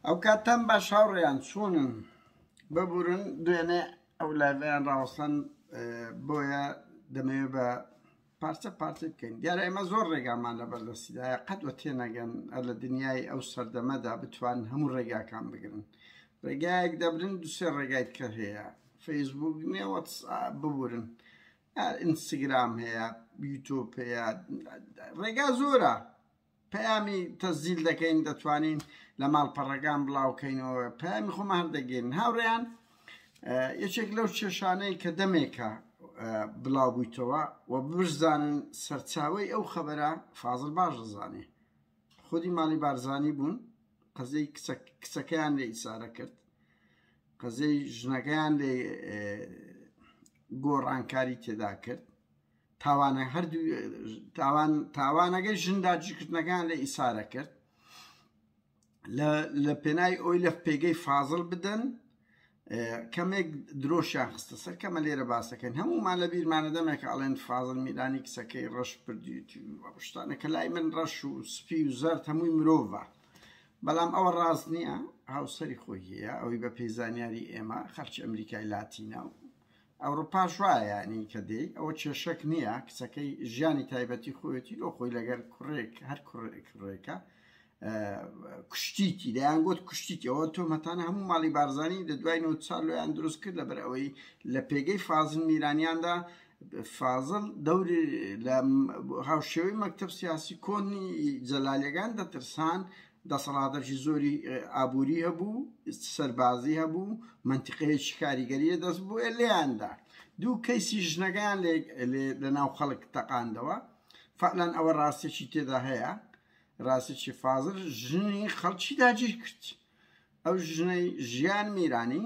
ئەو کاتان باش هاوڕێیان چۆنن ببورن دوێنێ ئەو لایڤیان ڕاوەسەن بۆیە دەمەوێت بە پارچە پارچە بکەین دیارە ئێمە زۆر ڕێگامان لە بەردەستیدایە قەت وە تێنەگەن لە دنیای ئەو سەردەمەدا بتوان هەموو ڕێگاکان بگرن ڕێگایەک دەبرن دوسێ ڕێگای کە هەیە فەیسبوک نیە ببورن ئینستاگرام هەیە یوتۆپ هەیە ڕێگا زۆرە پەیامی تەسجیل دەکەین دەتوانین لە ماڵپەڕەکان بڵاوکەینەوە پەیامی خۆمە هەردەگەین هاوڕێیان یەکێک لەو چێشانەی کە دەمێکە بڵاو بوویتەوە و بزانن سەرچاوی ئەو خەبەرە فازڵ باش دەزانێ خودی ماڵی بارزانی بوون قەزەی کچەکەیان لێ ئیسارە کرد قەزەی ژنەکەیان لێ گۆڕانکاری تێدا کرد تاوانە هەردوو تاوان تاوانەکەی ژندا جیکردنەکان لە ئیسارە کرد لە پێنای ئەوی لە پێگەی فازل بدەن کەمێک درۆشیان خستە سەر کەمە لێرە باسەکەن هەمومان لە بیرمانە دەمێک ئەڵێن فازل میرانی کچەکەی ڕەش پردیشتانە کە لای من ڕەش و سپی و زەرد هەمووی مرۆڤە بەڵام ئەوە ڕاست نییە هاوسری خۆی هەیە ئەوەی بە پێزانیاری ئێمە خەرچ ئەمریکای لاتینە و ئەوروپاش وایە یانی کە دێی ئەوە کێشەک نییە کچەکەی ژیانی تایبەتی خۆیەتی لۆ خۆی لەگەر کوڕێک هەر کوڕێکە کوشتیتی دەیان گوت کوشتیتەوە تۆمەتانە هەموو ماڵی بارزانانی لە دوای نەوت سال لۆیان دروست کرد لەبەر ئەوەی لە پێگەی فازن میرانیاندا فازل دەوری لە هاوشێوەی مەکتب سیاسی کۆنی جەلالیەکان دەترسان دەسەڵاتەکی زۆری ئابووری هەبوو، سەربازی هەبوو، مەنتیقەیەکی کاریگەری لە دەست بوو لێیاندا دوو کەیسی ژنەکەیان لە ناو خەڵک تەقاندەوە فعلەن ئەوە ڕاستێکی تێدا هەیە ڕاستێکی فازر ژنی خەڵکی داگیر کرد ئەو ژنەی ژیان میرانی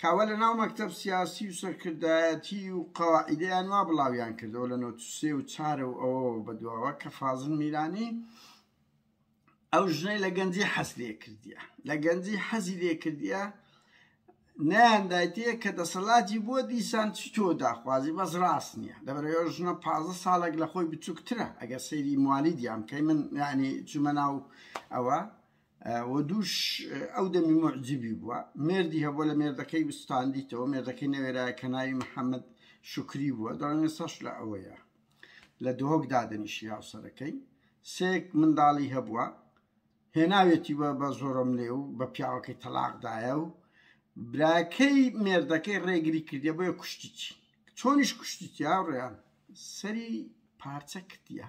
کاوە لە ناو مەکتەب سیاسی و سەرکردایەتی و قەواعیدەیان وا بڵاویان کردەوە لە نۆ سێ و چارە و ئەوەوە بە دواوە کە فازل میرانی ئەو ژنەی لە گەنجی حەز لێ کردیە لە گەنجی حەزی لێ کردیە نەیاندایتەیە کە دەسەڵاتی بۆ دیسان چ تۆ داخوازی بەس ڕاست نییە لەبەرەوە ژنە پازە ساڵێک لە خۆی بچووکترە ئەگەر سەیری موالیدیان کەی من یعنی چوومە ناو ئەوە و دووش ئەو دەمی موعجیبی بووە مێردی هەبووە لە مێردەکەی وستاندیتەوە مێردەکەی نەوێرایە کە ناوی محەممەد شکری بووە دەڵێن سەش لە ئەوەیە لە دۆک دادنیشی هاوسەرەکەی سێک منداڵی هەبووە هێناوێتی بە بە زۆرم لێ و بە پیاوەکەی تەلاقدایە و براکەی مێردەکەی ڕێگری کردە بۆیە کوشتیی چۆنیش کوشتیتیا ڕێیان سەری پارچە کردە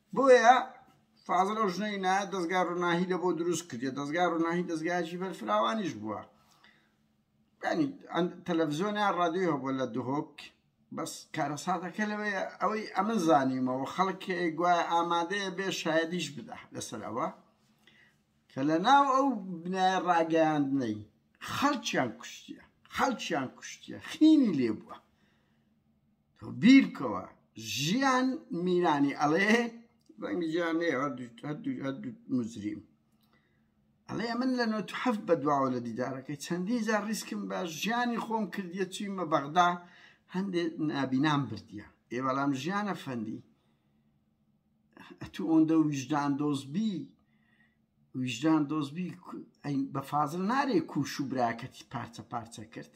بۆیە فازل ئەو ژنەی نایە دەستگا ڕووناهی لە بۆ دروست کردێت دەستگا ڕووناهی دەستگایکی بەرفراوانیش بووە ینی تەلەڤزیۆنیا ڕادیۆ هەبووە لە دهۆک بەس کارەساتەکە لەوەیە ئەوەی ئەمە زانیمەوە خەڵک گوایە ئامادەیە بێ شایدیش بدا لەسەر ئەوە کە لە ناو ئەو بنایە ڕاگەیاندنەی خەڵکیان کوشتە خەڵکیان کوشتە خینی لێ بووە تۆ بیرکەوە ژیان میرانی ئەڵێ ڕەنگی ژیان مزریم ئەڵێ من لە نۆ هەفت بە دواوە لە دیدارەکەی چەندی جار ڕیسکم بە ژیانی خۆم کردیە چویمە بەغدا هەندێ نابینام بردیە ئێ بەڵام ژیانە فەندی ئەتو ئۆندە ویژدان دۆزبی ویژدان دۆزبی بە فازل نارێ کوش و براکەتی پارچە پارچە کرد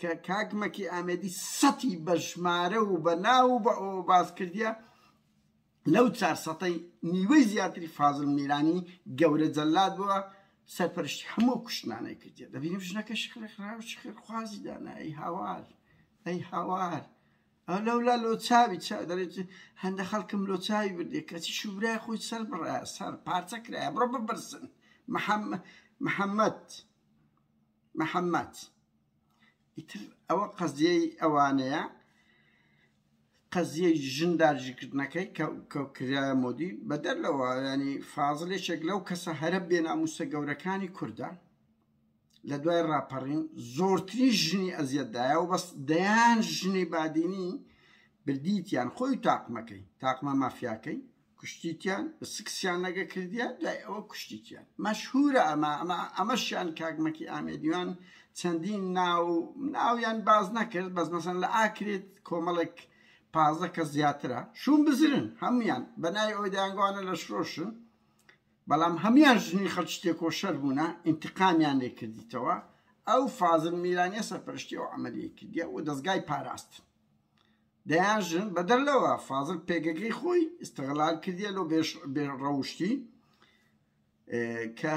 کە کاک مەکی ئامێدی سەتی بە ژمارە و بە ناو و بە ئەوە باس کردیە لەو چار سەتەی نیوەی زیاتری فازل میرانی گەورە جەلات بووە سەرپەرشتی هەموو کوشتنانەی کردێ دەبینیم ژنەکە شخێ خرا و شخێر خوازی دانا ئەی هاوار ئەی هاوار ئەو لەولا لۆ چاوی چا دەێت هەندە خەڵکم لۆ چاوی بردێ کەچی شوبرای خۆی سەر بڕە سەر پارچە کرایە بڕۆ ببرسن محەممەد محەممەد محمد ئیتر ئەوە قەزیەی ئەوانەیە قەزیەی ژن داجیکردنەکەی کرایە مۆدی بەدەر لەوە ینی فازلێکێک لەو کەسە هەرە بێناموسە گەورەکانی کووردە لە دوای ڕاپەڕین زۆرتری ژنی ئەزیەتدایە و بەس دەیان ژنی بادینی بردیتیان خۆی تاقمەکەی تاقمە مافیاکەی کوشتیتیان سکسیان لەگە کردیان دوای ئەوە کوشتیتیان مەشهورە ئەمە ئەمە ئەمەشیان کاکمەکی ئامێدیوان چەندین ناو ناویان باز نەکرد بەس مەسەن لە ئاکرێت کۆمەڵێک پازە کە زیاترە شوون بزرن هەمویان بەنای ئەوی دەیانگوانە لە شرۆشن بەڵام هەمویان ژنی خەڵ تێکۆشەر بوونە ئینتقامیان لێ کردیتەوە ئەو فازن میرانە سەرپەرشتی ئەو عملیە کردیە و دەستگای پاراستن دەیان ژن بەدەر لەوە فازل پێگەکەی خۆی استغلال کردیە لۆ بێ ڕەوشتی کە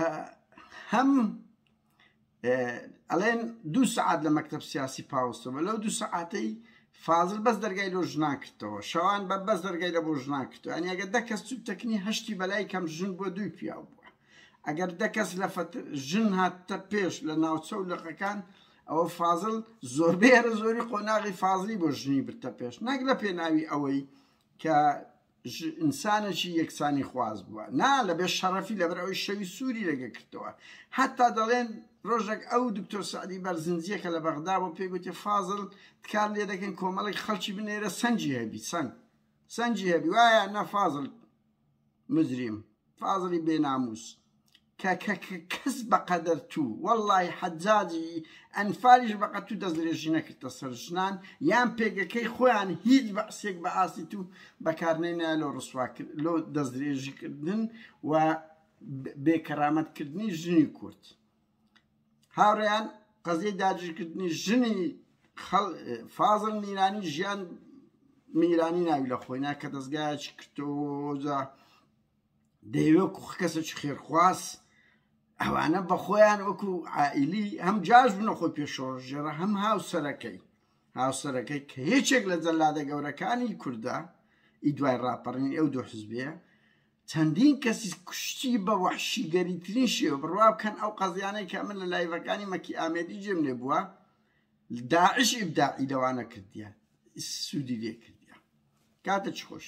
هەم ئەڵێن دوو سعات لە مەکتب سیاسی پاوەستەوە لەو دوو سعاتەی فازل بەس دەرگای لۆ ژنا کردەوە شەوان بە بەس دەرگای لە بۆ ژنا کردو ئەنیگە دە کەس چوب تەکنی هەشتی بەلای کەم ژن بۆ دووی پیاو بووە ئەگەر دە کەس لە فتر ژن هاتتە پێش لە ناوچە و لقەکان ئەوە فازڵ زۆربەی هەرە زۆری قۆناغی فازڵی بۆ ژنی برتە پێش نەک لە پێناوی ئەوەی کە ئینسانێکی یەکسانی خواز بووە نا لە بێ شەڕەفی لەبەر ئەوی شەوی سووری لەگە کردەوە حتا دەڵێن ڕۆژێک ئەو دکتۆر سعدی بەرزنجیەکە لە بەغدا بۆ پێگوتی فازل تکار لێ دەکەن کۆمەڵی خەڵکی بنێرە سنجی هەبی سنگ سەنجی هەبی وایە نە فازل مجرم فازلی بێناموس کە کەس بەقەدەر تو واللهی حەجاجی ئەنفالیش بەقە تو دەستدرێژی نەکردە سەر ژنان یان پێگەکەی خۆیان هیچ بەعسێک بە ئاستی تو بەکارنەینا لۆ ڕسوا کرد لۆ دەستدرێژی کردن و بێکەرامەتکردنی ژنی کورد هاوڕێیان قەزیەی داگیرکردنی ژنی فازل میرانی ژیان میرانی ناوی لە خۆی ناکە دەستگایکی کردۆجا دەیوە کوخ کەسێکی خێرخواز ئەوانە بە خۆیان وەکو ئائیلی هەم جاش بنە خۆی پێشۆڕژێرە هەم هاوسەرەکەی هاوسەرەکەی کە هیچێک لە جەلادە گەورەکانی کووردە ئی دوای ڕاپەڕین ئەو دوو حزبەیە چەندین کەسی کوشتی بە وەحشیگەریترین شێوە بڕوا بکەن ئەو قەزیانەی کە من لە لایڤەکانی مەکی ئامێدی جێم لێ بووە داعش ئیبداعی لەوانە کردیە سوودی لێ کردیە کاتە چ خۆش